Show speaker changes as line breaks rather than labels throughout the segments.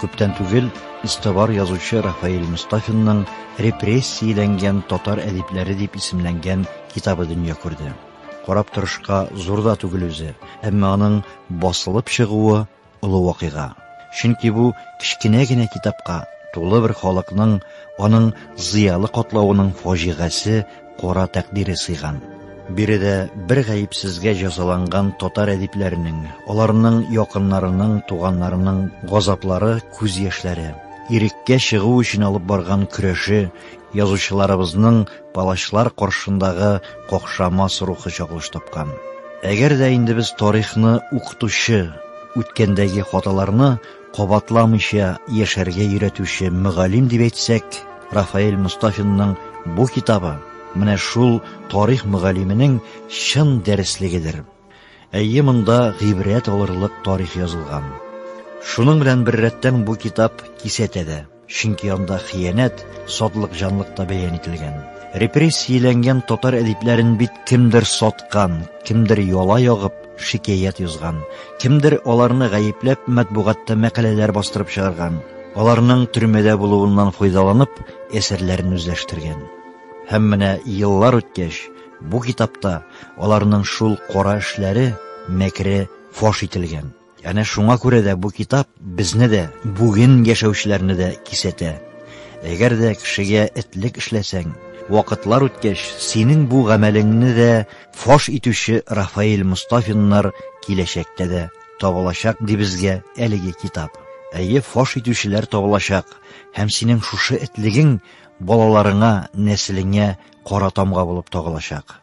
Күптән түгел истовар язучы Рафаэль Мустафинның репрессияләнгән татар әдипләре дип исемләнгән китабы дөнья күрде. Карап торышка зур да түгел үзе, әмма аның басылып чыгуы олы вакыйга. Чөнки бу кечкенә генә китапка тулы бер халыкның, аның зыялы катлавының фаҗигасе кара тәкъдире сыйган. Биредә бер гаепсезгә җәзаланган татар әдипләренең, аларның якыннарының, туганнарының газаплары, күз яшьләре, иреккә чыгу өчен алып барган көрәше, язучыларыбызның палачлар каршындагы какшамас рухы чагылыш тапкан. Әгәр дә инде без тарихны укытучы, үткәндәге хаталарны кабатламыйча яшәргә өйрәтүче мөгаллим дип әйтсәк, Рафаэль Мустафинның бу китабы менә шул тарих мөгаллименең чын дәреслегедер. Әйе, монда гыйбрәт алырлык тарих язылган. Шуның белән беррәттән бу китап кисәтә дә. Чөнки анда хыянәт, сатлык, җанлык та бәян ителгән. Репрессияләнгән татар әдипләрен бит кемдер саткан, кемдер яла ягып, шикаят язган, кемдер аларны гаепләп матбугатта мәкаләләр бастырып чыгарган, аларның төрмәдә булуыннан файдаланып, әсәрләрен үзләштергән. Һәм менә еллар үткәч, бу китапта аларның шул кара эшләре, мәкере фаш ителгән. Әнә шуңа күрә дә бу китап безне дә, бүген яшәүчеләрне дә кисәтә. Әгәр дә кешегә этлек эшләсәң, вакытлар үткәч, синең бу гамәлеңне дә фаш итүче Рафаэль Мустафиннар киләчәктә дә табылачак, ди безгә әлеге китап. Әйе, фаш итүчеләр табылачак, һәм синең шушы этлегең балаларыңа, нәселеңә кара тамга булып тагылачак.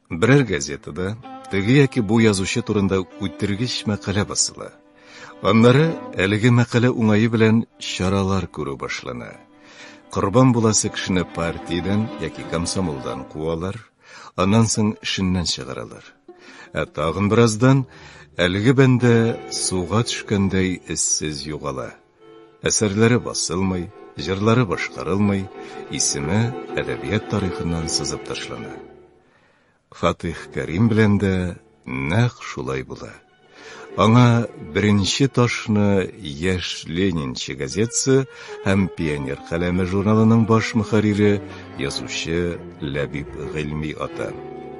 Берәр газетада теге яки бу язучы турында үтергеч мәкалә басыла. Аннары әлеге мәкалә уңае белән чаралар күрү башлана. Корбан буласы кешене партиядән яки комсомолдан куалар, аннан соң эшеннән чыгаралар. Ә тагын бераздан әлеге бәндә суга төшкәндәй эзсез югала. Әсәрләре басылмый, җырлары башкарылмый, исеме әдәбият тарихыннан сызып ташлана. Фатих Кәрим белән дә нәкъ шулай була. Аңа беренче ташны Яшь Ленинчы газетасы һәм Пионер каләме журналының баш мөхәррире, язучы Ләбиб Гыйльми ата.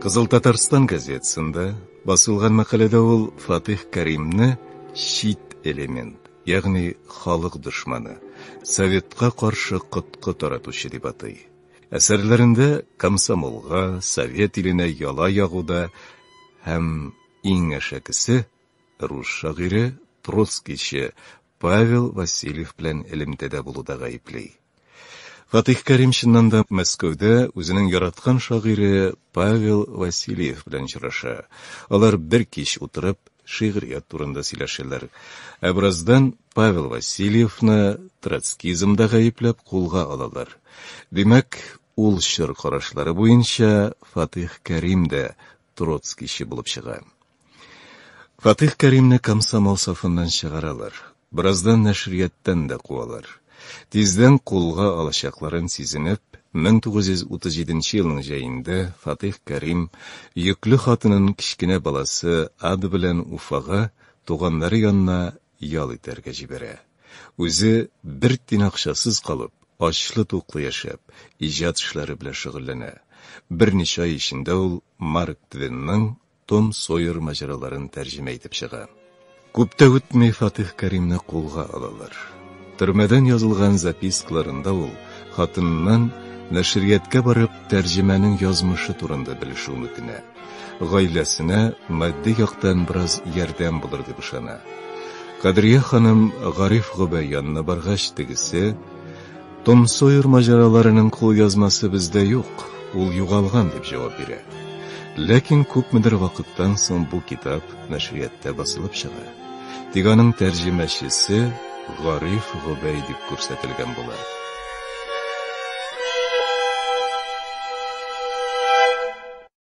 Кызыл Татарстан газетасында басылган мәкаләдә ул Фатих Кәримне чит элемент, ягъни халык дошманы, советка каршы коткы таратучы дип атый. Әсәрләрендә комсомолга, совет иленә яла ягуда һәм иң әшәкесе, рус шагыйре, троцкийчы Павел Васильев белән элемтәдә булуда гаепли. Фатих Кәрим чыннан да Мәскәүдә үзенең яраткан шагыйре Павел Васильев белән очраша. Алар бер кич утырып шигърият турында сөйләшәләр. Ә бераздан Павел Васильевны троцкизмда гаепләп кулга алалар. Димәк, ул чор карашлары буенча Фатих Кәрим дә троцкийчы булып чыга. Фатыйх Кәримне комсомол сафыннан чыгаралар. Бераздан нәшрияттан да куалар. Тиздән кулга алачакларын сизенеп, 1937 елның җәендә Фатыйх Кәрим йөкле хатынын кечкенә баласы Ад белән Уфага, туганнары янына ял итәргә җибәрә. Үзе бер тин акчасыз калып, ачлы-туклы яшәп, иҗат эшләре белән шөгыльләнә. Берничә ай эчендә ул Марк Твенның Том Сойер маҗараларын тәрҗемә итеп чыга. Күп тә үтми Фатих Кәримне кулга алалар. Төрмәдән язылган запискаларында ул хатыныннан нәшрияткә барып тәрҗемәнең язмышы турында белешүен үтенә. Гаиләсенә матди яктан бераз ярдәм булыр дип ышана. Кадрия ханым Гариф Гобәй янына баргач, тегесе, Том Сойер маҗараларының кулъязмасы бездә юк, ул югалган, дип җавап бирә. Ләкин күпмедер вакыттан соң бу китап нәшрияттә басылып чыга. Тик аның тәрҗемәчесе Гариф Гобәй дип күрсәтелгән була.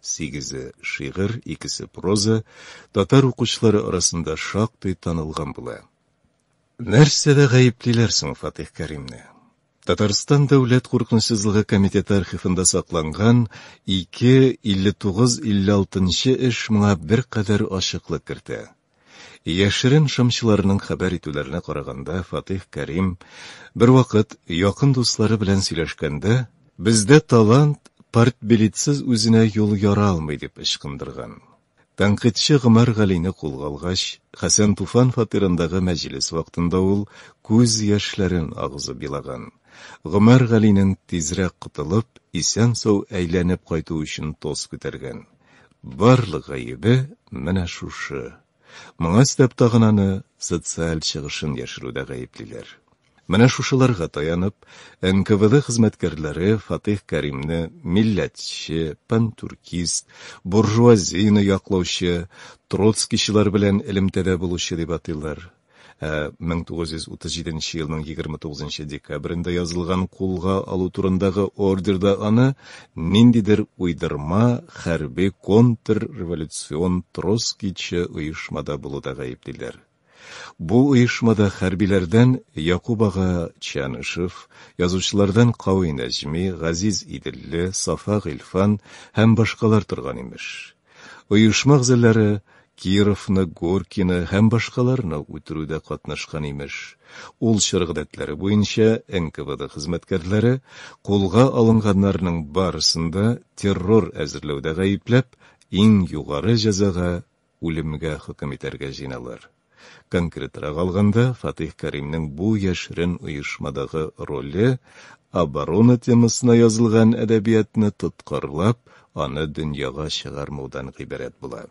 Сигезе шигырь, икесе проза, татар укучылары арасында шактый танылган була. Нәрсәдә гаеплиләр соң Фатих Кәримне? Татарстан дәүләт куркынычсызлыгы комитеты архивында сакланган 2 59-56 нчы эш моңа беркадәр ачыклык кертә. Яшерен шымчыларның хәбәр итүләренә караганда, Фатыйх Кәрим бервакыт якын дуслары белән сөйләшкәндә, Бездә талант партбилетсыз үзенә юл яра алмый, дип ычкындырган. Тәнкыйтьче Гомәр Галине кулга алгач, Хәсән Туфан фатирындагы мәҗлес вакытында ул күз яшьләрен агызып елаган. Гомәр Галинең тизрәк котылып, исән-сау әйләнеп кайтуы өчен тост күтәргән. Барлык гаебе менә шушы. Моңа өстәп тагын аны социаль чыгышын яшерүдә гаеплиләр. Менә шушыларга таянып, НКВД хезмәткәрләре Фатыйх Кәримне милләтче, пантюркист, буржуазияне яклаучы, троцкийчылар белән элемтәдә булучы дип атыйлар. 1937 э, елның 29 декабрендә язылган кулга алу турындагы ордерда аны ниндидер уйдырма хәрби контрреволюцион троскичы оешмада булуда гаеплиләр. Бу оешмада хәрбиләрдән Якуб ага Чанышев, язучылардан Кавый Нәҗми, Газиз Иделле, Сафа Гыйлфан һәм башкалар торган имеш. Оешмак зәлләре Кировны, Горькийны һәм башкаларны үтерүдә катнашкан, имеш. Ул чор гадәтләре буенча НКВД хезмәткәрләре кулга алынганнарның барысын да террор әзерләүдә гаепләп, иң югары җәзага, үлемгә хөкем итәргә җыеналар. Конкретрак алганда, Фатыйх Кәримнең бу яшерен оешмадагы роле, оборона темасына язылган әдәбиятны тоткарлап, аны дөньяга чыгармаудан гыйбарәт була.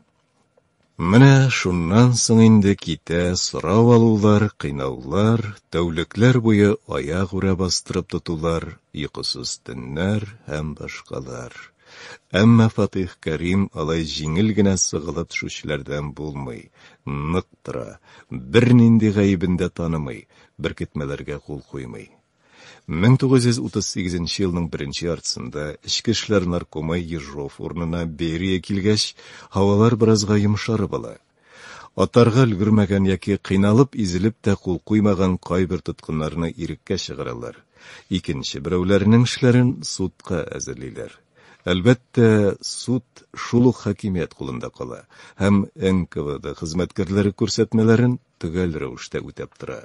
Менә шуннан соң инде китә сорау алулар, кыйнаулар, тәүлекләр буе аяк үрә бастырып тотулар, йокысыз төннәр һәм башкалар. Әмма Фатих Кәрим алай җиңел генә сыгылып төшүчеләрдән булмый, нык тора, бернинди гаебен дә танымый, беркетмәләргә кул куймый. 1938 елның беренче яртысында эчке эшләр наркомы Ежов урынына Берия килгәч, һавалар беразга йомшарып ала. Атарга өлгермәгән яки кыйналып-изелеп тә кул куймаган кайбер тоткыннарны иреккә чыгаралар, икенче берәүләренең эшләрен судка әзерлиләр. Әлбәттә, суд шул ук хакимият кулында кала һәм НКВД хезмәткәрләре күрсәтмәләрен төгәл рәвештә үтәп тора.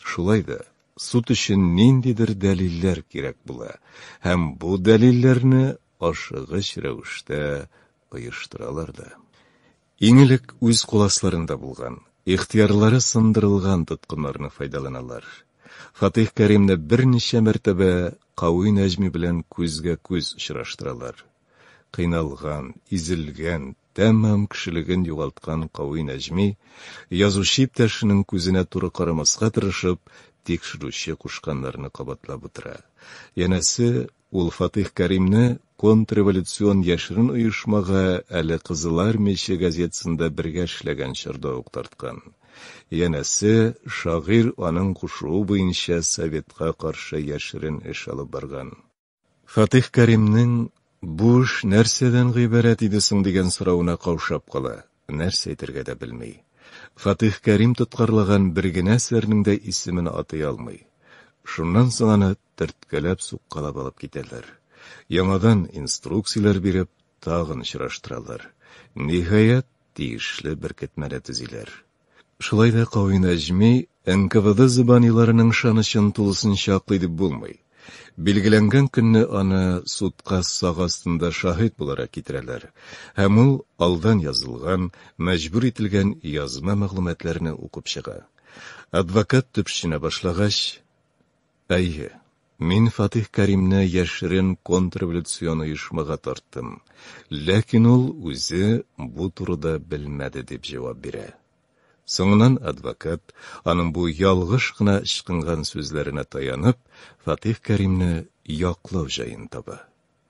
Шулай да, суд өчен ниндидер дәлилләр кирәк була һәм бу дәлилләрне ашыгыч рәвештә оештыралар да. Иң элек үз куласларында булган, ихтыярлары сындырылган тоткыннарны файдаланалар. Фатыйх Кәримне берничә мәртәбә Кави Нәҗми белән күзгә-күз очраштыралар. Кыйналган, изелгән, тәмам кешелеген югалткан Кави Нәҗми, язучы иптәшенең күзенә туры карамаска тырышып, тикшерүче кушканнарны кабатлап утыра. Янәсе, Ул Фатыйх Кәримне контрреволюцион яшерен оешмага әле Кызыл Армияче газетасында бергә эшләгән чорда ук тарткан. Янәсе, шагыйрь аның кушуы буенча Советка каршы яшерен эш алып барган. Фатыйх Кәримнең, Бу эш нәрсәдән гыйбарәт иде соң? дигән соравына каушап кала. Нәрсә әйтергә дә белми. Фатыйх Кәрим тоткарлаган бер генә әсәрнең дә исемен атый алмый. Шуннан соң аны төрткәләп, суккалап алып китәләр. Яңадан инструкцияләр биреп, тагын очраштыралар. Ниһаять, тиешле беркетмәне төзиләр. Шулай да Кави Нәҗми НКВД зөбаниларының ышанычын тулысынча аклый дип булмый. Билгеләнгән көнне аны судка сак астында шаһит буларак китерәләр, һәм ул алдан язылган, мәҗбүр ителгән язма мәгълүматларны укып чыга. Адвокат төпченә башлагач, Әйе, мин Фатих Кәримне яшерен контрреволюцион оешмага тарттым, ләкин ул үзе бу турыда белмәде, дип җавап бирә. Соңыннан адвокат, аның бу ялгыш кына ычкынган сүзләренә таянып, Фатих Кәримне яклау җаен таба.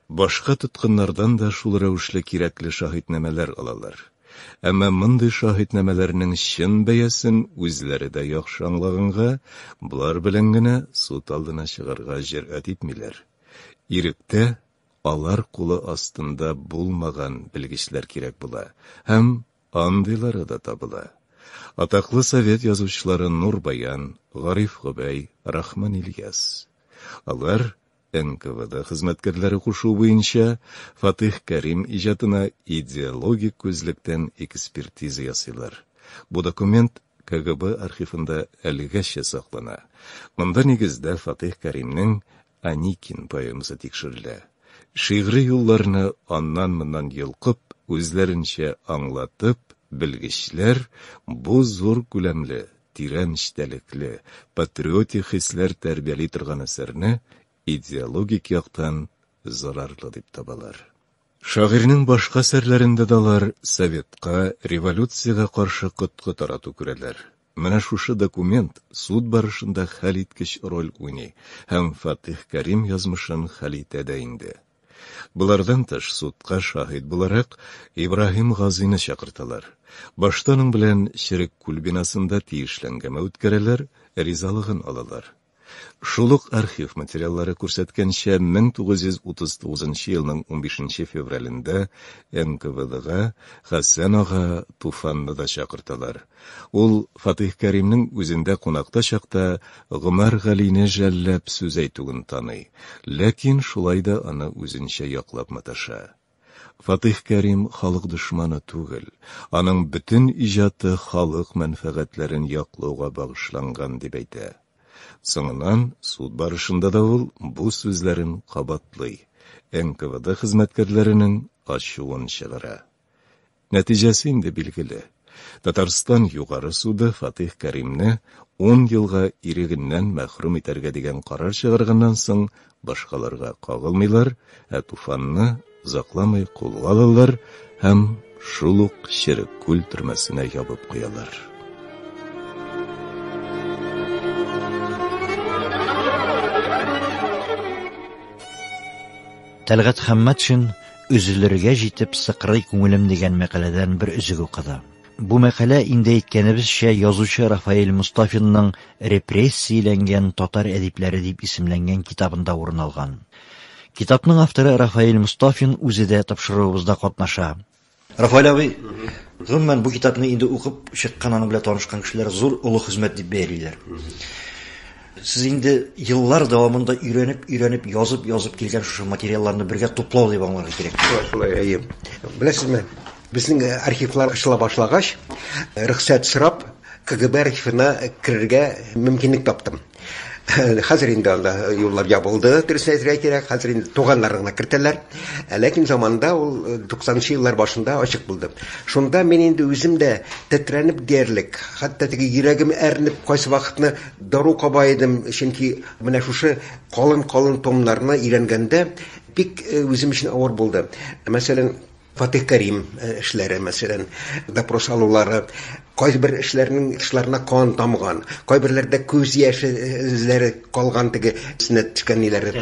Башка тоткыннардан да шул рәвешле кирәкле шаһитнамәләр алалар. Әмма мондый шаһитнамәләрнең чын бәясен үзләре дә яхшы аңлаганга, болар белән генә суд алдына чыгарга җөрьәт итмиләр. Иректә алар кулы астында булмаган белгечләр кирәк була һәм Андыйлары да табыла. Атаклы совет язучылары Нурбаян, Гариф Гобәй, Рахман Ильяс. Алар, НКВД хезмәткәрләре кушуы буенча, Фатыйх Кәрим иҗатына идеологик күзлектән экспертиза ясыйлар. Бу документ КГБ архивында әлегәчә саклана. Монда, нигездә, Фатыйх Кәримнең Аникин поэмасы тикшерелә. Шигъри юлларны аннан-моннан йолкып, үзләренчә аңлатып, белгечләр бу зур күләмле, тирән эчтәлекле, патриотик хисләр тәрбияли торган әсәрне идеологик яктан зарарлы дип табалар. Шагыйрьнең башка әсәрләрендә дә алар советка, революциягә каршы коткы тарату күрәләр. Менә шушы документ суд барышында хәлиткеч роль уйный һәм Фатих Кәрим язмышын хәл итә дә инде. Болардан тыш, судка шаһит буларак Ибраһим Газины чакырталар. Башта аның белән Черек күл бинасында тиешле әңгәмә үткәрәләр, ризалыгын алалар. Шул ук архив материаллары күрсәткәнчә, 1939 елның 15 февралендә НКВДга Хәсән ага Туфанны да чакырталар. Ул Фатыйх Кәримнең үзендә кунакта чакта Гомәр Галине жәлләп сүз әйтүен таный, ләкин шулай да аны үзенчә яклап маташа. Фатыйх Кәрим халык дошманы түгел, аның бөтен иҗаты халык мәнфәгатьләрен яклауга багышланган, дип әйтә. Соңыннан суд барышында да ул бу сүзләрен кабатлый, НКВД хезмәткәрләренең ачуын чыгара. Нәтиҗәсе инде билгеле. Татарстан Югары суды Фатих Кәримне 10 елга ирегеннән мәхрүм итәргә дигән карар чыгарганнан соң, башкаларга кагылмыйлар, ә Туфанны озакламый кулга алалар һәм шул ук Черек күл төрмәсенә ябып куялар.
Тәлгат Хәммәтшин Өзелергә җитеп сыкрый күңелем дигән мәкаләдән бер өзек укыды. Бу мәкалә инде әйткәнебезчә язучы Рафаэль Мустафинның репрессияләнгән татар әдипләре дип исемләнгән китабында урын алган. Китапның авторы Рафаэль Мустафин үзе дә тапшыруыбызда катнаша. Рафаэль абый, гомумән бу китапны инде укып чыккан, аның белән танышкан кешеләр зур олы хезмәт дип бәялиләр. Сез инде еллар дәвамында өйрәнеп-өйрәнеп, язып-язып килгән шушы материалларны бергә туплау дип аңларга кирәк. Шулай, шулай, әйе.
Беләсезме, безнең э, архивлар ачыла башлагач, э, рөхсәт сорап, КГБ архивына керергә мөмкинлек таптым. хәзер инде анда юллар ябылды дөресен әйтергә кирәк хәзер инде туганнарын гына кертәләр ә ләкин заманында ул э, туксанынчы еллар башында ачык булды шунда мин инде үзем дә тетрәнеп диярлек хәтта теге йөрәгем әрнеп кайсы вакытны Дару каба идем, чөнки менә шушы калын-калын томнарны өйрәнгәндә бик э, үзем өчен авыр булды. Мәсәлән, Фатих Кәрим э, эшләре, мәсәлән, допрос алулары, кайбер эшләрнең тышларына кан тамган, кайберләрдә күз яше э, эзләре калган теге сенә төшкән ниләре.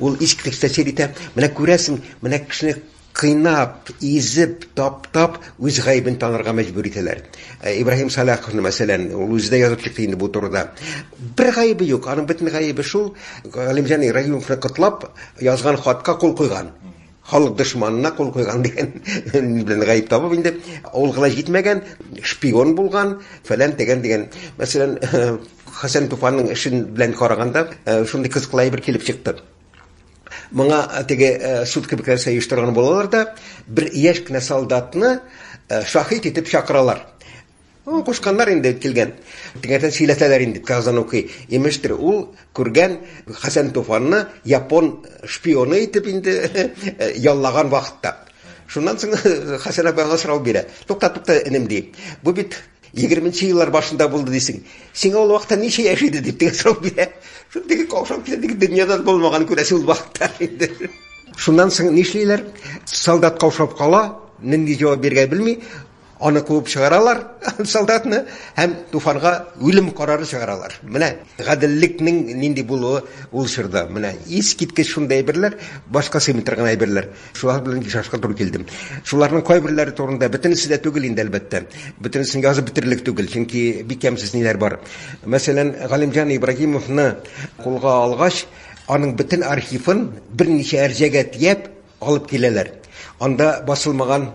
Ул искиткеч тәэсир итә. Менә күрәсең, менә кешене Кыйнап, изеп, таптап, үз гаебен танырга мәҗбүр итәләр. Э, Ибраһим Саляховны, мәсәлән, ул үзе дә язып чыкты инде бу турыда. Бер гаебе юк, аның бөтен гаебе шул, Галимҗан Ибраһимовны котлап язган хатка кул куйган. Халык дошманына кул куйган дигән белән гаеп табып инде, ул гына җитмәгән, шпион булган, фәлән дигән дигән. Мәсәлән, Хәсән Туфанның эшен белән караганда, э, шундый кызыклы әйбер килеп чыкты. Моңа теге суд кебекләр сәеш торган булалар да, бер яшь кенә солдатны шахид итеп чакыралар. Ну, кушканнар инде килгән. Тегәтен сөйләтәләр инде Казан укый. Имештер, ул күргән Хәсән Туфанны япон шпионы итеп инде яллаган вакытта. Шуннан соң Хәсән абый аңа сорау бирә. Тукта, тукта, энем ди. Бу бит Егерменче еллар башында булды дисең. Сиңа ул вакытта ничә яшь иде дип дигән сорау бирә. Шул теге каушап китә, теге дөньядан булмаган күрәсе ул вакытта инде. Шуннан соң нишлиләр? Солдат каушап кала, нинди җавап бирергә белми, аны куып чыгаралар, солдатны, һәм Туфанга үлем карары чыгаралар. Менә гаделлекнең нинди булуы ул чорда. Менә искиткеч шундый әйберләр, башка сыймый торган әйберләр. Шулар белән ешашка туры килдем. Шуларның кайберләре турында бөтенесе дә түгел инде әлбәттә. Бөтенесен язып бетерлек түгел, чөнки бик ямьсез ниләр бар. Мәсәлән, Галимҗан Ибрагимовны кулга алгач, аның бөтен архивын берничә әрҗәгә тияп алып киләләр. Анда басылмаган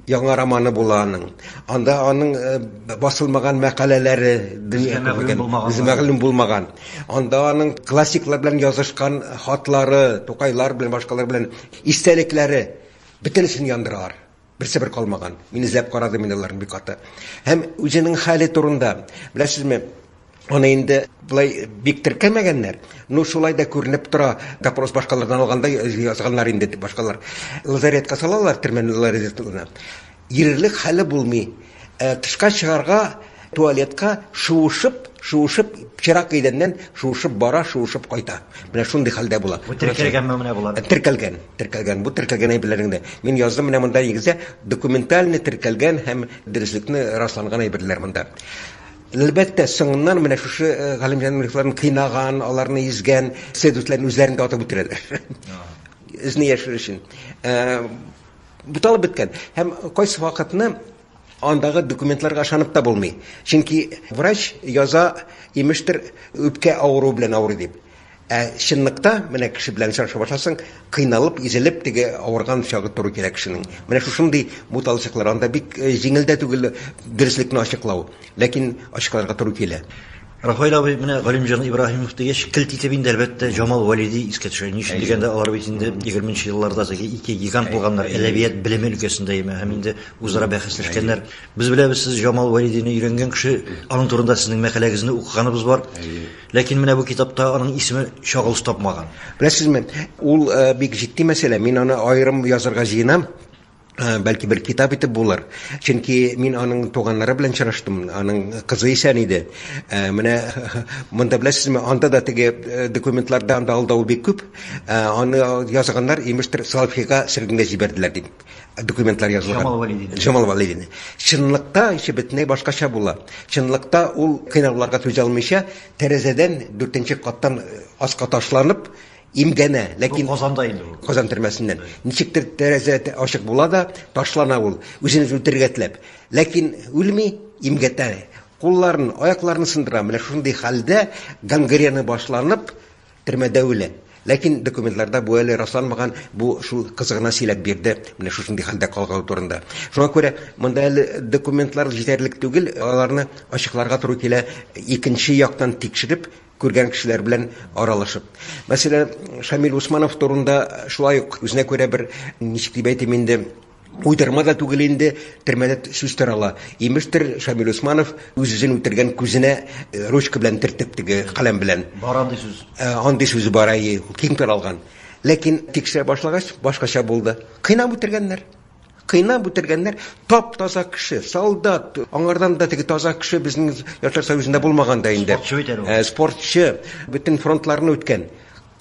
яңа романы була аның. Анда аның э, басылмаган мәкаләләре дөнья мәгълүм булмаган. Анда аның классиклар белән язышкан хатлары, Тукайлар белән башкалар белән Истәлекләре бөтенесен яндыралар. Берсе бер калмаган. Мин эзләп карадым инде аларны бик каты. Һәм үзенең хәле турында, беләсезме, Аны инде былай бик теркәмәгәннәр. Ну, шулай да күренеп тора, допрос башкалардан алганда язганнар инде башкалар. Лазаретка салалар, төрмәнең лазаретына. Йөрерлек хәле булмый. Тышка чыгарга, туалетка шуышып, шуышып, пычрак идәннән шуышып бара, шуышып кайта. Менә шундый хәлдә була. Бу теркәлгәнме менә болар?
Теркәлгән, теркәлгән. Бу
теркәлгән әйберләреңдә. Мин яздым менә монда нигездә документальный теркәлгән һәм дөреслекне расланган әйберләр монда. Әлбәттә, соңыннан менә шушы э, Галимҗан Мирхларны кыйнаган, аларны изгән следовательләрне үзләрен дә атып үтерәләр. Эзне яшерү өчен. Э, Буталып беткән. Һәм кайсы вакытны андагы документларга ышанып та булмый. Чөнки врач яза, имештер, үпкә авыруы белән авырый дип. Ә чынлыкта, менә кеше белән очраша башласаң, кыйналып, изелеп теге авырган чагы туры килә кешенең. Менә шушындый буталчыклар. Анда бик җиңел дә түгел дөреслекне ачыклау. Ләкин ачыкларга туры килә. Рафаэль абый,
менә Галимҗан Ибраһимов дигәч, келт итеп инде, әлбәттә, Җамал Вәлиди искә төшә. Ни өчен дигәндә, алар бит инде егерме нче елларда теге ике гигант булганнар, әдәбият белеме өлкәсендә яме, һәм инде үзара бәхәсләшкәннәр. Без беләбез, сез Җамал Вәлидине өйрәнгән кеше, аның турында сезнең мәкаләгезне укыганыбыз бар. Ләкин менә бу китапта аның исеме чагылыш тапмаган. Беләсезме,
ул бик җитди мәсьәлә, мин аны аерым язырга җыенам. Э, бәлки бер китап итеп булыр чөнки мин аның туганнары белән чыраштым аның кызы исән иде э, менә монда беләсезме анда да теге э, документларда анда алдау бик күп аны язганнар имештер салфига сөргенгә җибәрделәр дип документлар язылган жамал валидин жамал валидин чынлыкта ише бөтенләй башкача була чынлыкта ул кыйнауларга түзә алмыйча тәрәзәдән дүртенче каттан аска ташланып Имгәнә, ләкин... Бу Казанда инде ул. Казан
төрмәсеннән.
Ничектер тәрәзә ачык була да, ташлана ул, үзен үлтерергә теләп. Ләкин үлми, имгәтә. Кулларын, аякларын сындыра. Менә шундый хәлдә гангрена башланып, төрмәдә үлә. Ләкин документларда бу әле расланмаган, бу шул кызы гына сөйләп бирде, менә шушындый хәлдә калганы турында. Шуңа күрә монда әле документлар җитәрлек түгел, аларны ачыкларга туры килә, икенче яктан тикшереп, күргән кешеләр белән аралашып. Мәсәлән, Шамил Усманов турында шулай ук үзенә күрә бер, ничек дип әйтим инде, уйдырма да түгел инде, төрмәдә сүз тарала. Имештер, Шамил Усманов үз-үзен үтергән күзенә э, ручка белән төртеп теге каләм белән. Бар андый сүз. Э,
андый сүз бар,
әйе, киң таралган. Ләкин тикшерә башлагач, башкача булды. Кыйнап үтергәннәр. Кыйнап үтергәннәр, тап-таза кеше, солдат, аңардан да теге таза кеше безнең Яшьләр союзында булмаган да
инде.
Спортчы бит әле ул. Э, спортчы, бөтен фронтларны
үткән.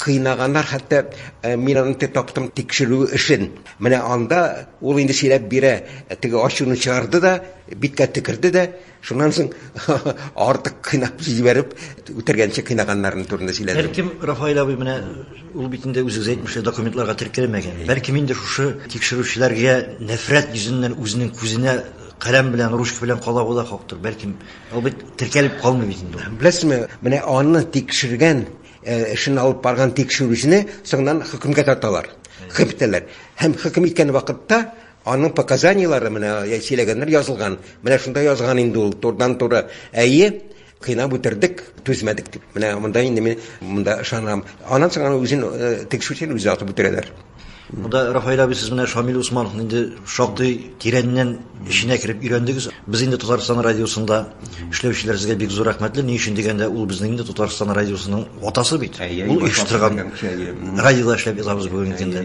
Кыйнаганнар, хәтта э, мин аны таптым тикшерү эшен. Менә анда ул инде сөйләп бирә, теге ачуны чыгарды да, биткә төкерде дә, Шуннан соң артык кыйнап җибәреп, үтергәнче кыйнаганнарын турында сөйләде. Бәлкем Рафаэль абый менә
ул бит инде үзегез әйтмешчә документларга теркәлмәгән. Бәлкем инде шушы тикшерүчеләргә нәфрәт йөзеннән үзенең күзенә каләм белән, ручка белән кала була хактыр. Бәлкем ул бит теркәлеп калмый бит инде. Беләсезме, менә
аны тикшергән, э, эшен алып барган тикшерүчене соңыннан хөкемгә тарталар. Хөкем итәләр. Һәм хөкем иткән вакытта Аның показаниелары менә сөйләгәннәр язылган. Менә шунда язган инде ул турыдан-туры. Әйе, кыйнап үтердек, түзмәдек дип. Менә монда инде мин монда ышанам. Аннан соң аны үзен э, тегшүчен үзе атып үтерәләр. Монда Рафаил
абый сез менә Шамил Усмановны инде шактый тирәннән эченә кереп өйрәндегез. Без инде Татарстан радиосында эшләүчеләр сезгә бик зур рәхмәтле. Ни өчен дигәндә, ул безнең инде Татарстан радиосының атасы бит. Ул оештырган радиода эшләп ятабыз бүгенге көндә.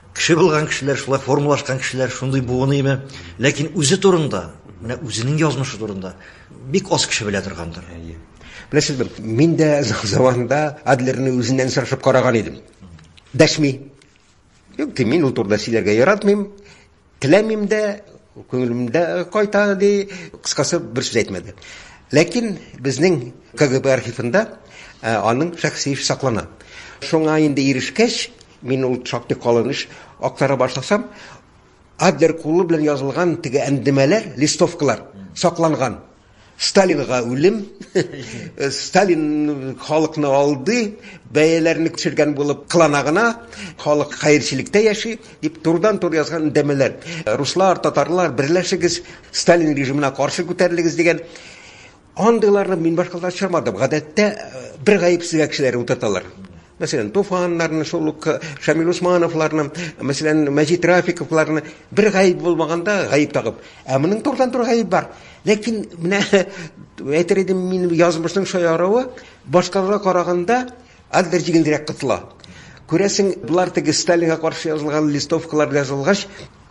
Кеше булган кешеләр, шулай формалашкан кешеләр шундый буыныймы? Ләкин үзе турында, менә үзенең язмышы турында бик аз кеше белә торгандыр. Беләсезме,
мин дә заманында Адлерны үзеннән сорашып караган идем. Дәшми. Юк, мин ул турыда сөйләргә яратмыйм. Теләмим дә, күңелем дә кайта, ди. Кыскасы, бер сүз әйтмәде. Ләкин безнең КГБ архивында аның шәхси эше саклана. Шуңа инде ирешкәч, мин ул шактый калын эш актара башласам, Адлер кулы белән язылган теге әндемәләр, листовкалар сакланган. Сталинга үлем, Сталин халыкны алды, бәяләрне төшергән булып кылана гына, халык хәерчелектә яши, дип турдан тур язган үндәмәләр. Руслар, татарлар, берләшегез, Сталин режимына каршы күтәрелегез дигән андыйларны мин башкаларда очрамадым. Гадәттә э, бер гаепсезгә кешеләр утырталар. Мәсәлән, Туфаннарны, шул ук Шамил Усмановларны, мәсәлән, Мәҗит Рафиковларны бер гаеп булмаганда гаеп тагып. Ә моның турыдан-туры гаеп бар. Ләкин менә әйтер идем мин язмышның шаярыуы башкаларга караганда андер җиңелрәк кытыла. Күрәсең, болар теге Сталинга каршы язылган листовкалар язылгач,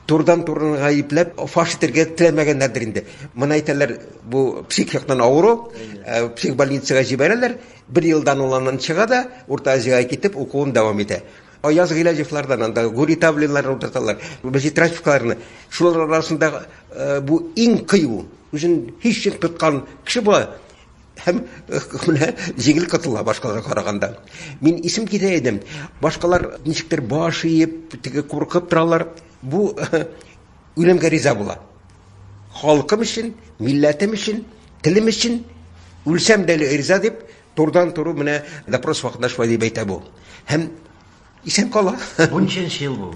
турдан турын гаепләп фаш итәргә теләмәгәннәрдер инде. Моны әйтәләр, бу псих яктан авыру, э, псих больницага җибәрәләр, Бер елдан ул аннан чыга да, Урта Азиягә китеп, укуын дәвам итә. Аяз Гыйләҗевлардан, анда Гури Тавлиннарны утырталар, Вәҗит Рафиковларны. Шулар арасында бу иң кыю, үзен һичшик тоткан кеше була һәм менә җиңел котыла башкаларга караганда. Мин исем китә идем. Башкалар ничектер баш иеп, теге куркып торалар. Бу Үлемгә риза була. Халкым өчен, милләтем өчен, телем өчен үлсәм дә риза дип, турдан туры менә допрос вакытында шулай дип әйтә бу. Һәм исән кала. Бу ничәнче ел бу?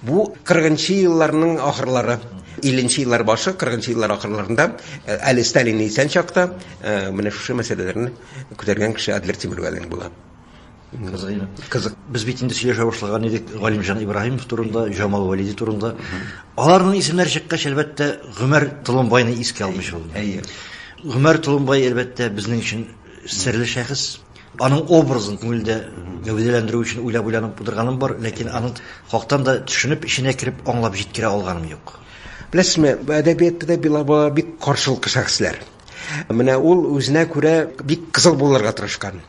Бу 40нчы
елларның ахырлары. 50нче еллар башы, 40нчы еллар ахырларында э, әле Сталин исән чакта э, менә шушы мәсьәләләрне күтәргән кеше Адлер Тимиргалин була. Кызык иде.
Кызык. Без бит инде сөйләшә башлаган идек Галимҗан Ибраһимов турында, Җамал Вәлиди турында. Аларның исемнәре чыккач, әлбәттә, Гомәр Толымбайны искә алмыйча булмый. Әйе. Гомәр Толымбай, әлбәттә, безнең өчен серле шәхес. Аның образын күңелдә гәүдәләндерү өчен уйлап-уйланып утырганым бар, ләкин аның хактан да төшенеп, эченә кереп, аңлап җиткерә алганым юк. Беләсезме, әдәбиятта да
Билабаба бик каршылыклы шәхесләр. Менә ул үзенә күрә бик кызыл булырга тырышкан.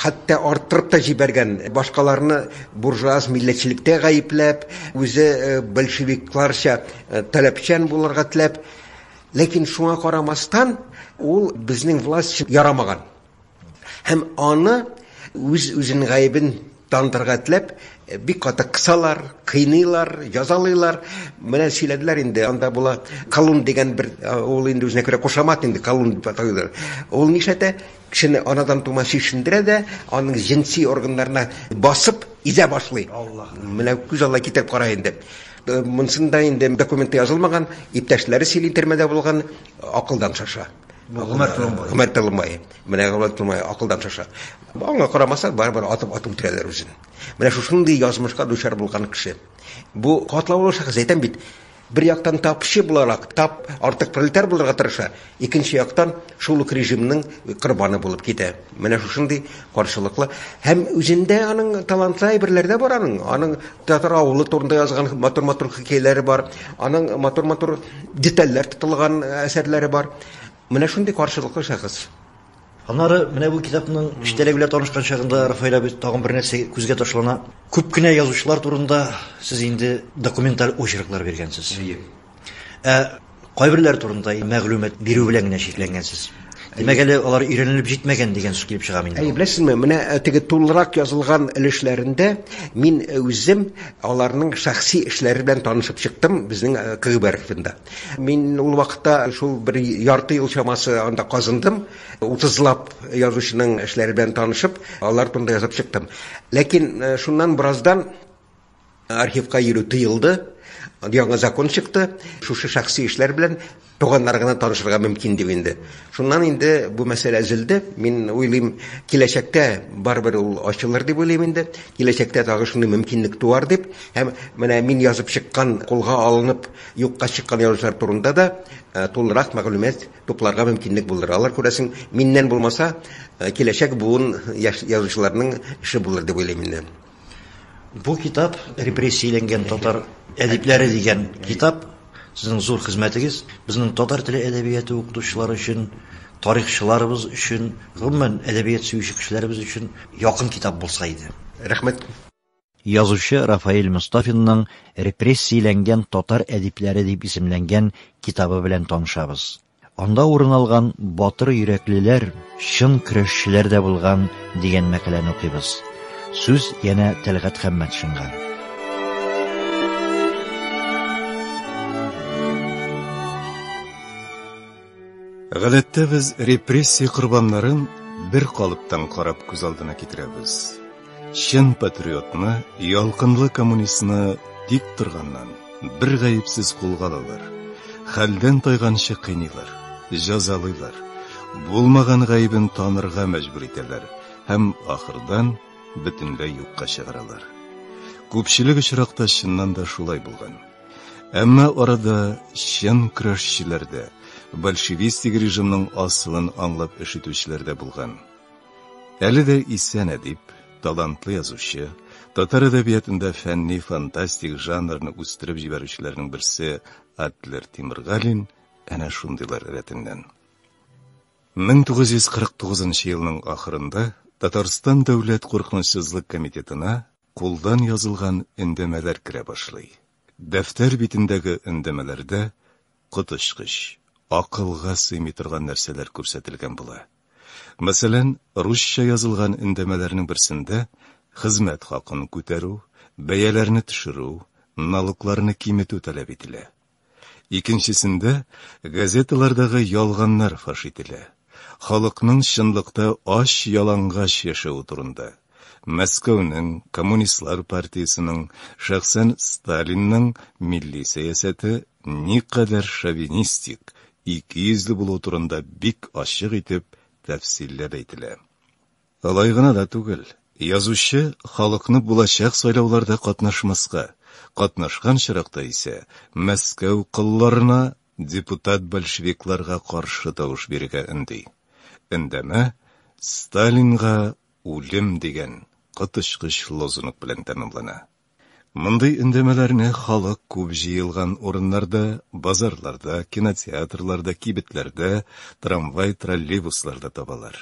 хәтта арттырып та җибәргән, башкаларны буржуаз милләтчелектә гаепләп, үзе большевикларча таләпчән булырга теләп. Ләкин шуңа карамастан, ул безнең власть өчен ярамаган. Һәм аны үз-үзен гаебен Танытырга этләп, бик каты кысалар, кыйныйлар, җазалыйлар. Менә сөйләделәр инде, анда була Колун дигән бер, ул инде үзенә күрә кушамат инде, Колун дип атыйлар. Ул нишләтә? Кешене анадан тума чишендерә дә, аның җенси органнарына басып, изә башлый. Менә күз алдына китереп кара инде. Монсын да инде документта язылмаган, иптәшләре сөйли, төрмәдә булган, акылдан шаша. Гомәр Толымбай. Гомәр Толымбай. Менә Гомәр Толымбай акылдан шаша. Аңа карамаса, барыбер атып атып үтерәләр үзен. Менә шушындый язмышка дучар булган кеше. Бу катлаулы шәхес әйтәм бит. Бер яктан тапчы буларак, тап артык пролетар булырга тырыша, икенче яктан шул ук режимның корбаны булып китә. Менә шушындый Каршылыклы һәм үзендә аның талантлы әйберләр дә бар аның. Аның татар авылы турында язган матур-матур хикәяләре бар. Аның матур-матур детальләр тотылган э, әсәрләре бар. Менә шундый каршылыклы шәхес. Аннары
менә бу китапның эчтәлеге белән танышкан чагында Рафаэль абый тагын бер нәрсә күзгә ташлана. Күп кенә язучылар турында сез инде документаль очерклар биргәнсез. Әйе. Ә кайберләр турында мәгълүмат бирү белән генә чикләнгәнсез. Димәк, әле алар өйрәнелеп җитмәгән дигән сүз килеп чыга минем. Әй, беләсезме, менә э, теге
тулырак язылган өлешләрендә мин э, үзем аларның шәхси эшләре белән танышып чыктым безнең э, КГБ архивында. Мин ул вакытта шул бер ярты ел чамасы анда казындым, утызлап язучының эшләре белән танышып, алар турында язып чыктым. Ләкин шуннан бераздан Архивка йөрү тыелды. Яңа закон чыкты. Шушы шәхси эшләр белән туганнар гына танышырга мөмкин дип инде. Шуннан инде бу мәсьәлә өзелде. Мин уйлыйм, киләчәктә барыбер ул ачылыр дип уйлыйм инде. Киләчәктә тагы шундый мөмкинлек туар дип. Һәм менә мин язып чыккан, кулга алынып, юкка чыккан язучылар турында да э, тулырак мәгълүмат тупларга мөмкинлек булыр. Алар күрәсең, миннән булмаса, э, киләчәк буын язучыларның эше булыр дип уйлыйм инде. Бу
китап Репрессияләнгән татар әдипләре дигән китап. Сезнең зур хезмәтегез безнең татар теле әдәбияты укытучылары өчен, тарихчыларыбыз өчен, гомумән, әдәбият сөюче кешеләребез өчен якын китап булса иде. Рәхмәт.
Язучы
Рафаэль Мостафинның Репрессияләнгән татар әдипләре дип исемләнгән китабы белән танышабыз. Анда урын алган батыр йөрәклеләр чын көрәшчеләр дә булган дигән мәкаләне укыйбыз. Сүз янә Тәлгат Хәммәтшинга.
Гадәттә без репрессия корбаннарын бер калыптан карап күз алдына китерәбез. Чын патриотны, ялкынлы коммунистны тик торганнан, бер гаепсез кулга алалар. Хәлдән тайганчы кыйныйлар, җәзалыйлар. Булмаган гаебен танырга мәҗбүр итәләр һәм ахырдан бөтенләй юкка чыгаралар. Күпчелек очракта чыннан да шулай булган. Әмма арада чын көрәшчеләр дә, большевистик режимның асылын аңлап эш итүчеләр дә булган. Әле дә исән әдип, талантлы язучы, татар әдәбиятында фәнни фантастик жанрны үстереп җибәрүчеләрнең берсе Адлер Тимиргалин әнә шундыйлар рәтеннән. 1949 елның ахырында Татарстан дәүләт куркынычсызлык комитетына кулдан язылган өндәмәләр керә башлый. Дәфтәр битендәге өндәмәләрдә коточкыч, акылга сыймый торган нәрсәләр күрсәтелгән була. Мәсәлән, русча язылган өндәмәләрнең берсендә хезмәт хакын күтәрү, бәяләрне төшерү, налогларны киметү таләп ителә. Икенчесендә газеталардагы ялганнар фаш ителә. Халыкның чынлыкта ач-ялангач яшәве турында. Мәскәүнең, Коммунистлар партиясенең, шәхсән Сталинның милли сәясәте никадәр шовинистик, икейөзле булу турында бик ачык итеп тәфсилләп әйтелә. Алай гына да түгел, язучы халыкны булачак сайлауларда катнашмаска, катнашкан чоракта исә Мәскәү колларына, депутат-большевикларга каршы тавыш бирергә өнди. Өндәмә Сталинга үлем дигән коточкыч лозунг белән тәмамлана. Мондый өндәмәләрне халык күп җыелган урыннарда, базарларда, кинотеатрларда, кибетләрдә, трамвай-троллейбусларда табалар.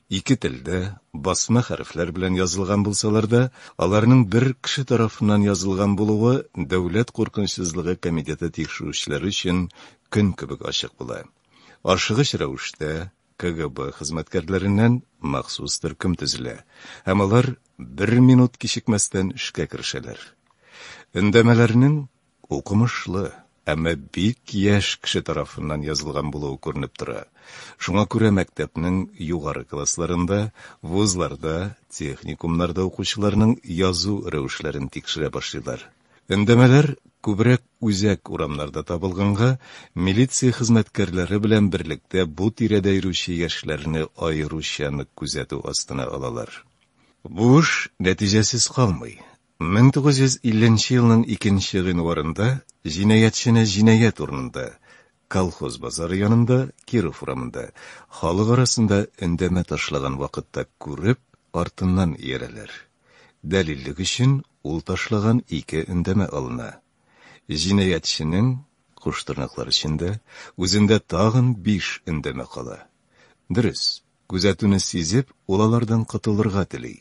Ике телдә, басма хәрефләр белән язылган булсалар да, аларның бер кеше тарафыннан язылган булуы Дәүләт куркынычсызлыгы комитеты тикшерүчеләре өчен көн кебек ачык була. Ашыгыч рәвештә, КГБ хезмәткәрләреннән махсус төркем төзелә, һәм алар бер минут кичекмәстән эшкә керешәләр. Өндәмәләрнең укымышлы, әмма бик яшь кеше тарафыннан язылган булуы күренеп тора. Шуңа күрә мәктәпнең югары классларында, вузларда, техникумнарда укучыларның язу рәвешләрен тикшерә башлыйлар. Өндәмәләр күбрәк үзәк урамнарда табылганга, милиция хезмәткәрләре белән берлектә бу тирәдә йөрүче яшьләрне аеруча нык күзәтү астына алалар. Бу эш нәтиҗәсез калмый. 1950 елның икенче гыйнварында җинаятьчене җинаять урынында, Колхоз базары янында, Киров урамында, халык арасында өндәмә ташлаган вакытта күреп, артыннан иярәләр. Дәлиллек өчен ул ташлаган ике өндәмә алына. Җинаятьченең, куштырнаклар эчендә, үзендә тагын биш өндәмә кала. Дөрес, Күзәтүне сизеп, ул алардан котылырга тели.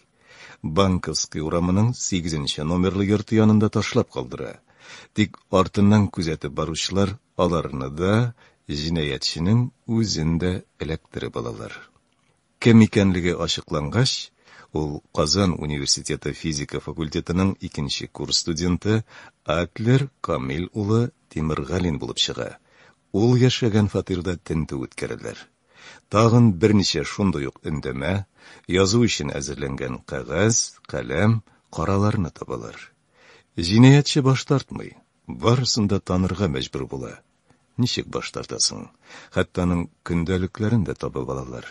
Банковский урамының сигезенче номерлы йорты янында ташлап калдыра. Тик артыннан күзәтеп баручылар аларны да, җинаятьченең үзен дә эләктереп алалар. Кем икәнлеге ачыклангач, ул Казан университеты физика факультетының икенче курс студенты Адлер Камил улы Тимергалин булып чыга. Ул яшәгән фатирда тентү үткәрәләр. Тагын берничә шундый ук өндәмә, язу өчен әзерләнгән кәгазь, каләм, караларны табалар. Җинаятьче баш тартмый, барысын да танырга мәҗбүр була. Ничек баш тартасың? Хәтта аның көндәлекләрен дә табып алалар.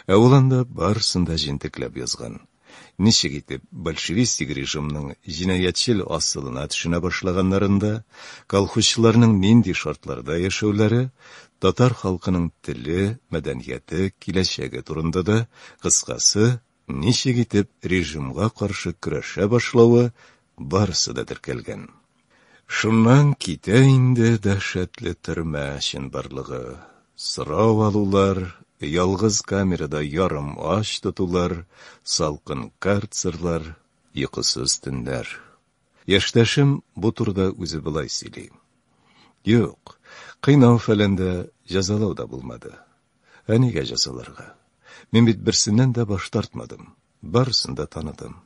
Ә ул анда барысын да җентекләп язган. ничек итеп большевистик режимның җинаятьчел асылына төшенә башлаганнарын да, колхозчыларның нинди шартларда яшәүләре, татар халкының теле, мәдәнияте, киләчәге турында да, кыскасы, ничек итеп режимга каршы көрәшә башлавы барысы да теркәлгән. Шуннан китә инде дәһшәтле төрмә чынбарлыгы, сорау алулар, ялгыз камерада ярым ач тотулар, салкын карцерлар, йокысыз төннәр. Яшьтәшем бу турыда үзе болай сөйли. Юк, кыйнау-фәлән дә, җәзалау да булмады. Ә нигә җәзаларга? Мин бит берсеннән дә баш тартмадым, барысын да таныдым.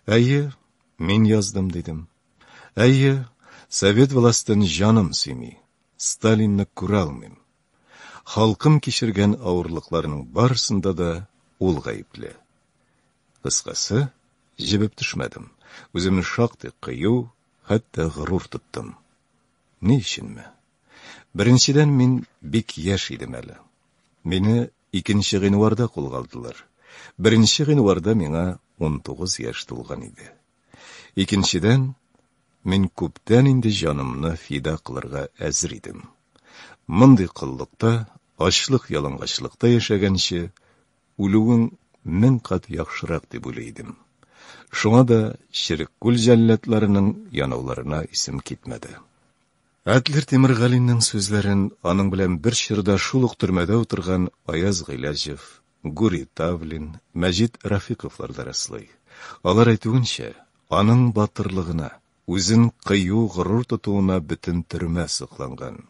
Әйе, мин яздым, дидем. Әйе, совет властен җаным сөйми, Сталинны күрә алмыйм. Халкым кичергән авырлыкларның барысында да ул гаепле. Кыскасы, җебеп төшмәдем. Үземне шактый кыю, хәтта горур тоттым. Ни өченме? Беренчедән, мин бик яшь идем әле. Мине Икенче гыйнварда кулга алдылар. Беренче гыйнварда миңа унтугыз яшь тулган иде. Икенчедән, мин күптән инде җанымны фида кылырга әзер идем. Мондый коллыкта, ачлык-ялангачлыкта яшәгәнче, үлүең мең кат яхшырак дип уйлый идем. Шуңа да Черек күл җәлләдләренең янауларына исем китмәде. Адлер Тимергалинең сүзләрен аның белән бер чорда шул ук төрмәдә утырган Аяз Гыйләҗев, Гури Тавлин, Мәҗит Рафиковлар да раслый. Алар әйтүенчә, аның батырлыгына, үзен кыю, горур тотуына бөтен төрмә сокланган.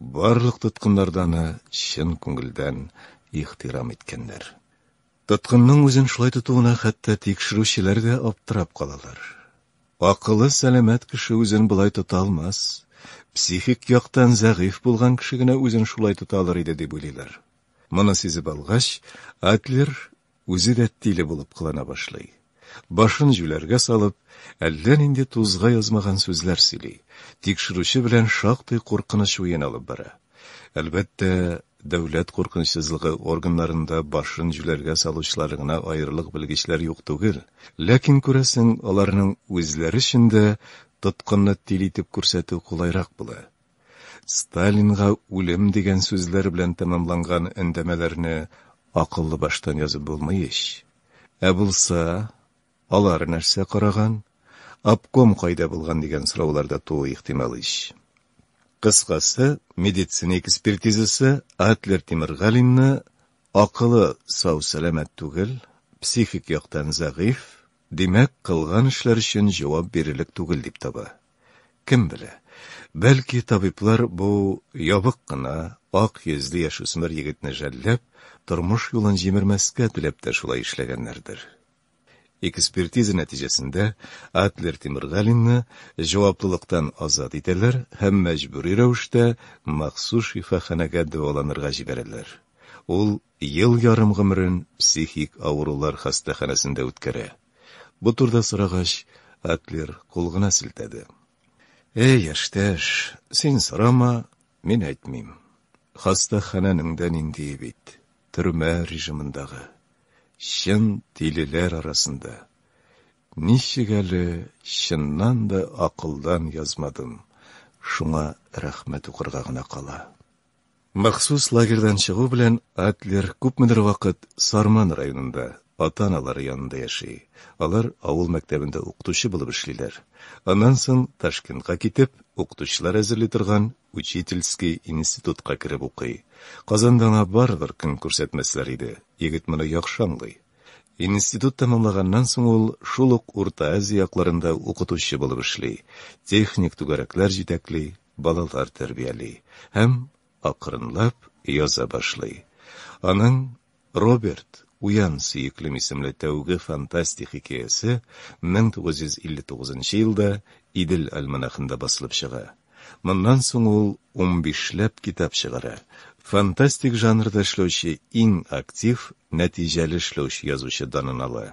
Барлык тоткыннар да аны чын күңелдән ихтирам иткәннәр. Тоткынның үзен шулай тотуына хәтта тикшерүчеләр дә аптырап калалар. Акылы сәламәт кеше үзен болай тота алмас, психик яктан зәгыйфь булган кеше генә үзен шулай тота алыр иде дип уйлыйлар. Моны сизеп алгач, Адлер үзе дә тиле булып кылана башлый. Башын җүләргә салып, әллә нинди тузга язмаган сүзләр сөйли, тикшерүче белән шактый куркыныч уен алып бара. Әлбәттә, дәүләт куркынычсызлыгы органнарында башын җүләргә салучылар гына аерылык белгечләр юк түгел, ләкин күрәсең, аларның үзләре өчен дә тоткынны тиле итеп күрсәтү кулайрак була. Сталинга үлем дигән сүзләр белән тәмамланган өндәмәләрне акыллы баштан язып булмый ич. Ә булса, алар нәрсә караган, обком кайда булган дигән сораулар да тууы ихтимал ич. Кыскасы, медицина экспертизасы Атлер Тимергалинны акылы сау-сәламәт түгел, психик яктан зәгыйфь, димәк, кылган эшләр өчен җавап бирерлек түгел дип таба. Кем белә, бәлки табиблар бу ябык кына, ак йөзле яшүсмер егетне жәлләп, тормыш юлын җимермәскә теләп тә шулай эшләгәннәрдер. Экспертиза нәтиҗәсендә Атлер Тимергалинны җаваплылыктан азат итәләр һәм мәҗбүри рәвештә махсус шифаханәгә дәваланырга җибәрәләр. Ул Ел ярым гомерен психик авырулар хастаханәсендә үткәрә. Бу турыда сорагач, Адлер кул гына селтәде. Әй, яшьтәш, син сорама, мин әйтмим. Хастаханәнең дә ниндие бит, төрмә режимындагы. Чын тилеләр арасында. Ничек әле чыннан да акылдан язмадым, шуңа рәхмәт укырга гына кала. Махсус лагерьдан чыгу белән Адлер күпмедер вакыт Сарман районында, ата-аналары янында яши. Алар авыл мәктәбендә укытучы булып эшлиләр. Аннан соң Ташкентка китеп, укытучылар әзерли торган учительский институтка кереп укый. Казанда аңа барыбер көн күрсәтмәсләр иде, егет моны яхшы аңлый. Институт тәмамлаганнан соң ул шул ук Урта Азия якларында укытучы булып эшли, техник түгәрәкләр җитәкли, балалар тәрбияли һәм акрынлап яза башлый. Аның Роберт, уян, сөеклем исемле тәүге фантастик хикәясе 1959 елда Идел альманахында басылып чыга. Моннан соң ул 15 ләп китап чыгара. Фантастик жанрда эшләүче иң актив, нәтиҗәле эшләүче язучы данын ала.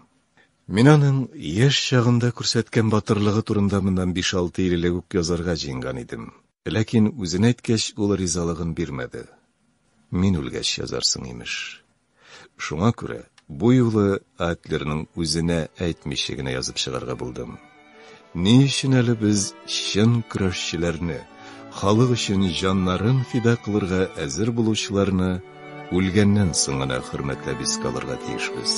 Мин аның яшь чагында күрсәткән батырлыгы турында моннан биш-алты ел элек үк язарга җыенган идем, ләкин үзен әйткәч, ул ризалыгын бирмәде. Мин үлгәч язарсың, имеш. Шуңа күрә бу юлы Адлерның үзенә әйтмичә генә язып чыгарга булдым. Ни өчен әле без чын көрәшчеләрне, халык өчен җаннарын фида кылырга әзер булучыларны үлгәннән соң гына хөрмәтләп искә алырга тиешбез?